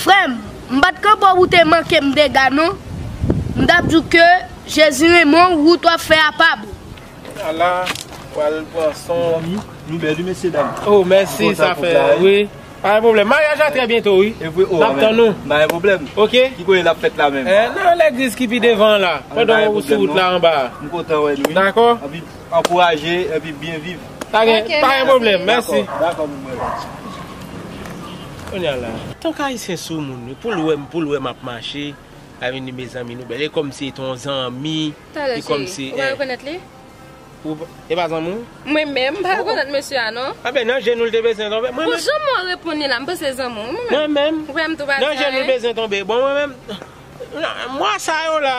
Frèm, m pat kan paw ou te mankem dega non. M tap diw ke Jezi renmen w wout wap fè a pa bon. Ala pral pran son. Mezanmi nou bèl wi mesye dam. Oh mèsi sa fè wi. Pa gen pwoblèm. Maryaj la trè byento wi. Evre oh amen. Pa gen pwoblèm. Ok. Ki kote lap fèt la menm? Nan legliz ki pi devan an la. Pandan ou sou wout la anba a. M kontan wè nou wi. Dakò. Ankouraje epi byen viv. Pa gen pwoblèm, mèsi. Dakò moun mwen la. Konya la. Fok ayisyen sou moun wi poul wèm poul wèm ap mache avni mezanmi nou bèl e kòmsi e ton zanmi e kòmsi e. Talè chéri ou pa rekonèt li? E pa zanmi w? Mwen menm m pa rekonèt mesye a non. Anben nan je nou l te bezwen tonbe mwen menm. Bon janm wè w reponn li la m panse se zanmi w mwen menm. Mwen menm nan je nou l bezwen tonbe bon mwen menm. Mwa sa yo la.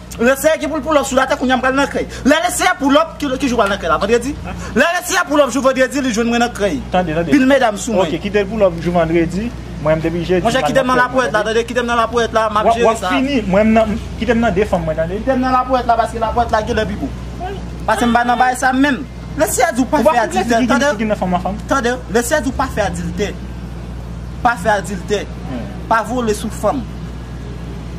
Leslie ki poul poulòp sou latè kounya m pral nan krèy lè leslie poulòp ki jou pral nan krèy la vandredi lè leslie poulòp jou vandredi li jwenn mwen nan krèy pil medam sou mwen ok kitel poulòp jou vandredi mwen m depi jedi monchè kitem nan lapoèt la tande kitem nan lapoèt la map jere sa wap fini mwen m nan kitem nan 2 fanm mwen tande kitem nan lapoèt la paske lapoèt la genlè pi gou paske m pa nan bagay sa menm leslie a di ou pa fè adiltè tande tande leslie a di ou pa fè adiltè pa fè adiltè pa vole sou fanm.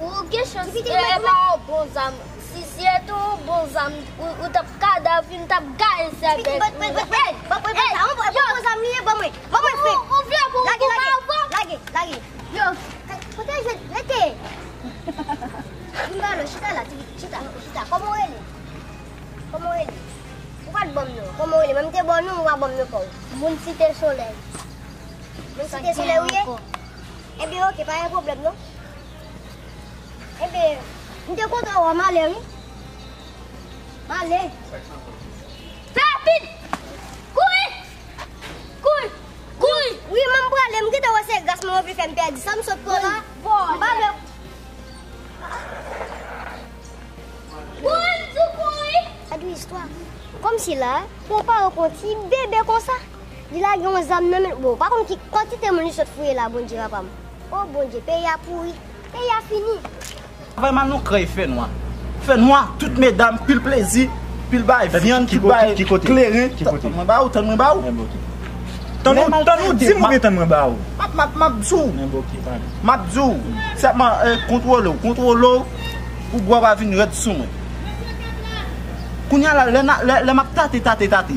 Ou gen chans ee pa yon bon zam si se te yon bon zam ou tap kadav li m tap gaye sèvèl ou la ou vle pou m koupe avèw moun site solèy Ebyen ok pa gen pwoblèm non. Ebyen m te kontan wè w m ale wi. M ale. Fè rapid! Kouri! Kouri! Kouri! Wi man m prale m gentan wè se gras mwen yo vle fè m pèdi sa m sot pran la. M pa vle. Kouri m di w kouri! Sa dwe istwa. Kòmsi la pou w pa rankontre ti bebe konsa? Li lage yon zam nan menl bon ou pa konn ki kantite moun li sot fouye la bondye papam oh bondye peyi a pouri peyi a fini. Travay mal non krèy fè nwa. Fè nwa tout medam pil plezi pil bay vyann tout bay kleren tann mwen ba ou tann mwen ba ou tann ou tann ou dim oubyen tann mwen ba ou map map di w map di w sèlman kontwole w kontwole w pou bwa pa vin rèd sou mwen kounya la lè map tate tate tate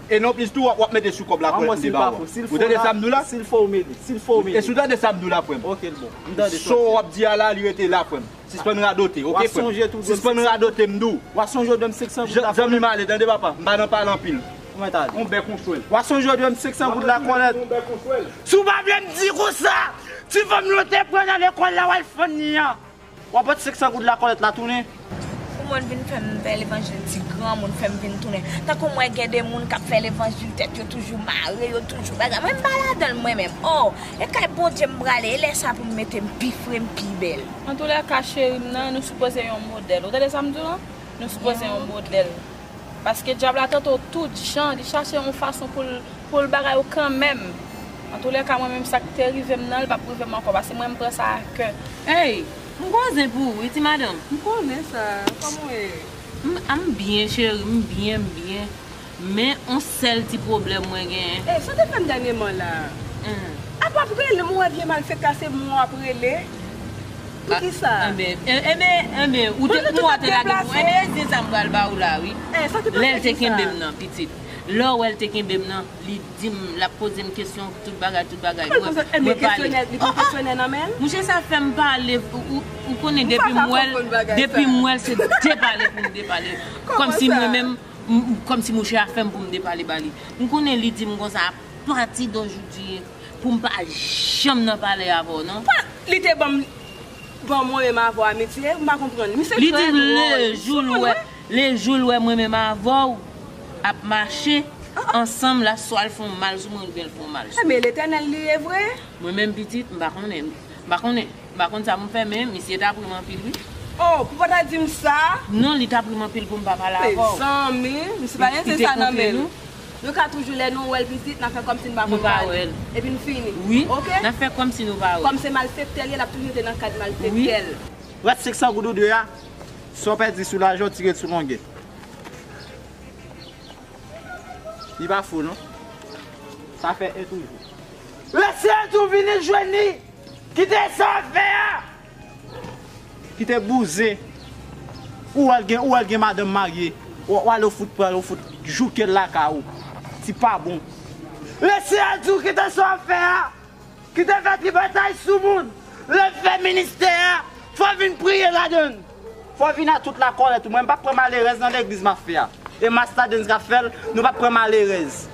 E non plis tou wap wap mete sou kòb la kwèl mnde bawou an. Ou tande sam diw la? Sil fo ou mele. Sil fo ou mele. Esi w tande sam diw la frèm? Ok l bon. M tande sak di a. Saw wap di a la li rete la frèm. Sispann radote ok frèm. Wap sonje tou dwem 500. Sispann radote m diw. Wap sonje w dwem 500 goud la kòlèt. Zanmim ale tande papa. M pa nan pale anpil. Mwen ta ale. On bèk on chwèl. Wap sonje w dwem 500 goud la kòlèt. Wap sonje w dwem 500 goud la kòlèt. On bèk on chwèl. Si w pa vle m di konsa. Ti fanm yo te pran nan lekòl la wal fann li an. Wap bat 500 goud la kòlèt la tounen. Kouman l vin fè m fè levanjil ti granmoun fè m vin tounen tankou m wè gen de moun k ap fè levanjil tèt yo toujou mare yo toujou bagay mwen m pa ladan l mwen menm oo e kay Bondye m prale e lè sa pou m mete m pi fre m pi bèl. Antoulèka cheri m nan nou sipoze yon modèl ou tande sa m di w lan nou sipoze yon modèl. Paske dyab la tante w tout jan, li chache yon fason pou l pou l bagay ou kanmenm. Antoulèka mwen menm sa k te rive m nan li p ap rive m ankò paske mwen m pran sa a kè. Ey! M gwo zen pou ou wi ti madanm. M konnen sa. Kòman w ye? M m byen cheri, m byen, m byen. Men on sèl ti pwoblèm mwen genyen. Ey, sa w te fè m dènyeman la a? Ap ap rele m ou wè vye malfekta se mwen w ap rele? Pou ki sa? Enben, enben, enben, ou te, ou a te lage pou, enben, enben sa m pral ba ou la wi. Eh, sa te pral fè ki sa? Lè l te kenbe m nan, pitit. Lè w wè l te kenbe m nan, li di m, l ap poze m kesyon, tout bagay, tout bagay. Mwen, mwen pale. Ki poze, kesyonè, li gen kesyonè nan men l? Mouche, sa fè m pale, ou, ou konnen depi m wè l, depi m wè l se depale pou m depale. Kòm si mwen menm, m, kòm si mouche a fè m pou m depale ba li. M konnen li di m konsa, a pati dojou di. Poum pa janm nan pale avè w non. Pah li te banm banm mwen menm avèw amitye m pa konprann misye trè dròl li te banm sou mwen wè. Le jou l wè mwen menm avèw ap mache ansanm la swa l fon mal sou mwen oubyen l fon mal sou mwen. Ebyen letènèl li ye vre. Mwen menm pitit m pa konnen m pa konnen m pa konn sa poum fè men misye tap rim anpil wi. Oh pou pa ta dim sa. Non li tap rim anpil poum pa pale avèw. Mezanmi misye pa gen se sa nan menl. Nou ka toujou lè nou wèl pitit na fè kòmsi nou pa konn pale epi nou fini ok kòm se malfektè l ye lap toujou rete nan kad malfektè l. Rès 500 goud ou dwe a, sa w pèdi sou lajan w tire l sou longè. Li pa fou non. Sa fè 1 toujou. Rès 1 tou vini jwenn li! Kite sa w ap fè a! Kite bouzen Ou wèl gen ou wèl gen madanm marye Ou ale ou fout pranl ou fout joukel lakay ou Ti pa bon. Resi al di w kite sa w ap fè a Kite fè tripotay sou moun Lè w fè ministè a Fò w vin priye ladan l Fò w vin a tout lakòlèt ou Mwen m pap pran malerèz nan legliz m ap fè a E masta Dens k ap fè l Nou pap pran malerèz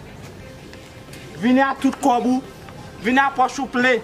Vini a tout kòb ou Vini a pòch ou plen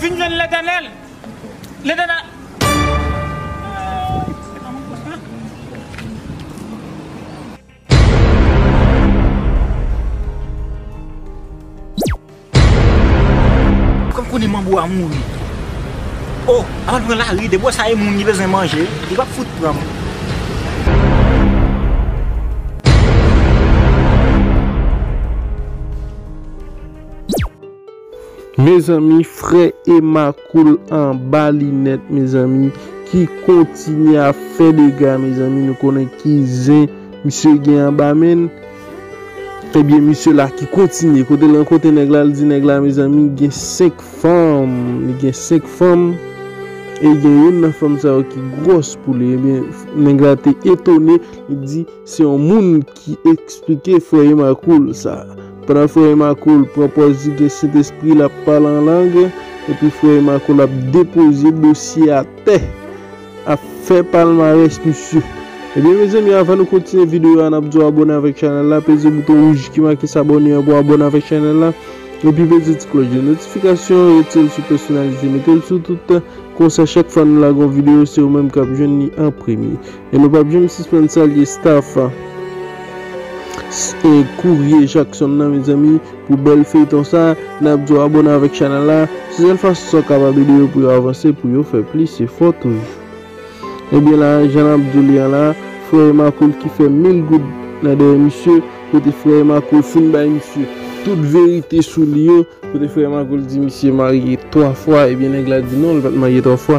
Vin jwenn Letènèl. Letènèl. Kòm konnen manbo a mouri. Oh avan l pran lari depi w wè sa e moun li bezwen manje li pap fout pran moun. Mezanmi frè Emma cool anba linèt mezanmi ki kontinye ap fè dega mezanmi nou konnen ki zen misye gen anba menl. Ebyen misye la ki kontinye kote lan kote nèg la li di nèg la mezanmi gen 5 fanm li gen 5 fanm e gen youn nan fanm sa yo ki gwòs pou li ebyen nèg la te etone li di se yon moun ki esplike frè Emma Cool sa pandan frè Emma Cool pran pòz li gen sentespri lap pale an lang epi frè Emma Cool ap depoze dosye atè Ap fè palmarès misye. Ebyen mezanmi avan nou kontinye videyo a nap di w abone avèk chanèl la peze bouton wouj ki make s'abonner an pou w abone avèk chanèl la epi peze ti klòch de notifikasyon an rete l sou pèsonalize mete l sou tout konsa chak fwa nou lage yon videyo se ou menm kap jwenn li an premye e nou pap janm sispann salye staff Courrier Jackson nan mezanmi. Pou bèl feyton sa, nap diw abone avèk chanèl la, se sèl fason sa w kapab ede yo pou yo avanse pou yo fè plis efò toujou. Ebyen la jan nap diw li an la, frè e makoul ki fè mil goud nan dèyè misye, kote frè e makoul fin bay misye tout verite sou li yo, kote frè e makoul di misye marye 3 fwa, ebyen nèg la di non li pat marye 3 fwa,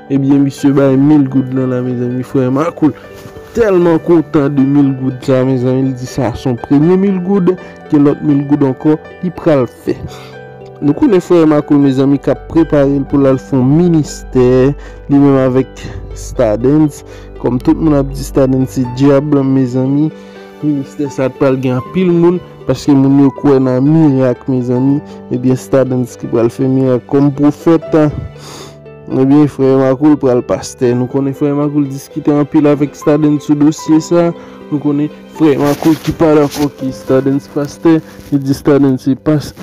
Ebyen misye bay mil goud lan la mezanmi frè Marco tèlman kontan de mil goud sa mezanmi li di sa son premye mil goud gen lòt mil goud ankò li pral fè nou konnen frè Marco mezanmi kap preparel poul al fon ministè li menm avèk stadens kòm tout moun ap di stadens se dyab mezanmi ministè sa pral gen anpil moun paske moun yo kwè nan mirak mezanmi ebyen stadens ki pral fè mirak kòm pwofèt. Ebyen frè Makoul pral pastè nou konnen frè Makoul diskite anpil avèk Stadens sou dosye sa nou konnen frè Makoul ki pa dakò ke Stadens pastè li di Stadens se pas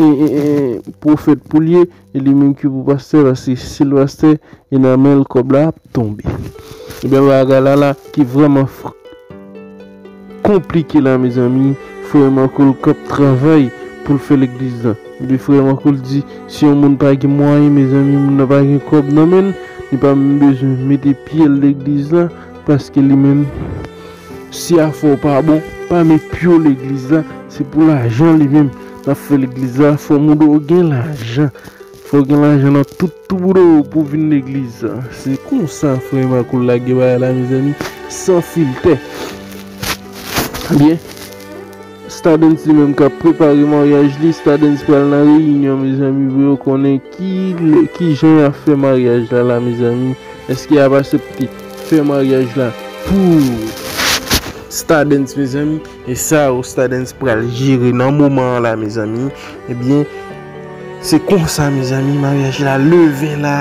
profèt poul ye e li menm ki pou pastè paske sil pastè e nan menl kòb la ap tonbe ebyen bagay la la ki vrèman fre. konplike la mezanmi frère Marco l kap travay poul fè legliz la epi frère Marco l di si yon moun pa gen mwayen mezanmi moun nan pa gen kòb nan menl li pa menm bezwen mete pyel legliz la paske li menm si afè w pa bon pa met pyew legliz la se pou lajan li menm lap fè legliz la fò moun ou gen lajan. Fòk gen lajan nan tout tou bro pou vin legliz. Se konsa frè Marco lage bagay la mezanmi san filtè. Ebyen Stardens li menm kap prepare maryaj li Stardens pral nan reyinyon mezanmi pou yo konnen kijan yap fè maryaj la la mezanmi eske yap asepte fè maryaj la pou Stardens mezanmi e sa Stardens pral jere nan moman an la mezanmi ebyen. Se konsa mezanmi maryaj la leve la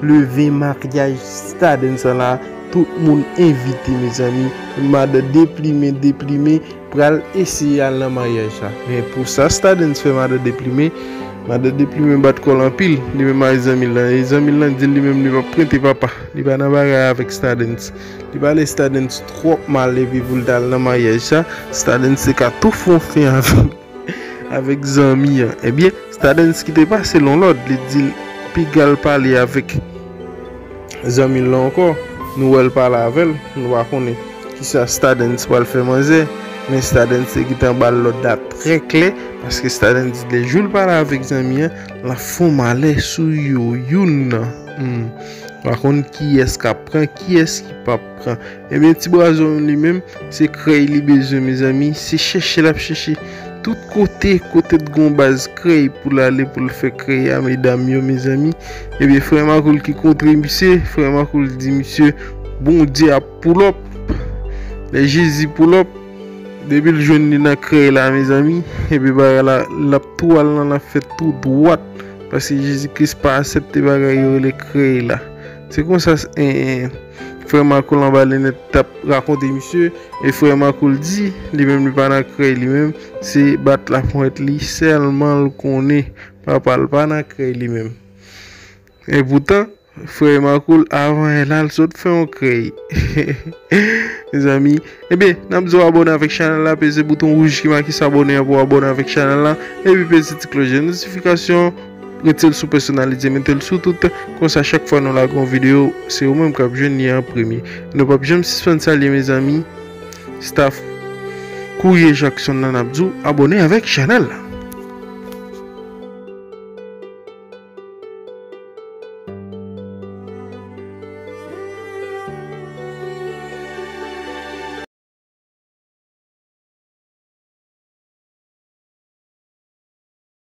leve maryaj stadens sa la tout moun envite mezanmi madan deplimen deplimen pral eseye al nan maryaj la men pou sa stadens fè madan deplimen madan deplimen bat kòl anpil li menm ak zanmil la e zanmil lan dil li menm li pap prete papa li pa nan bagay avèk stadens li pale stadens twòp mal epi poul tal nan maryaj sa stadens te ka tou fon fen avèl. Avèk zanmi an. Ebyen, Stadensky te pase l yon lòd, li di l, Piga l pale avèk zanmi l lan ankò. Nou wè l pale avè l. Nou pa konnen ki sa Stadens pral fè manzè. Men Stadens te gentan ba l lòd la trè klè, paske Stadens di lè jou l pale avèk zanmi an, l ap fè yon malè sou yo youn nan. Hum. Pa konn kiyès k ap pran, kiyès ki p ap. Ebyen ti brazon li menm se krèy li bezwen mezanmi se chèche lap chèche tout kote kote t gon baz krèy poul ale poul fè krèy a medam yo mezanmi ebyen frè makoul ki kontre misye frè makoul di misye bondye ap poulòp lè jezi poulòp depil jwenn li nan krèy la mezanmi ebyen bagay la lap tou al nan lap fèt tou dwat paske jezi kris pa asèpte bagay yo rele krèy la se konsa. Frè Makoul anba linèt tap rakonte misye e frè Makoul di li menm li pa nan krèy li menm se bat laponyèt li sèlman l konnen papa l pa nan krèy li menm e poutan frè Makoul avan yè la l sot fè yon krèy mezanmi ebyen n ap di w abòne avèk chanèl la peze bouton wouj ki make sabòne an pou w abòne avèk chanèl la epi peze ti klòch de notifikasyon. Retel sou personalize metel sou tout, konsa chak fwa nou lage yon video se ou menm kap jwenn li an premye. Nou pap janm sispann salye mezanmi staff Courrier Jackson lan nap di w abone avèk chanèl la.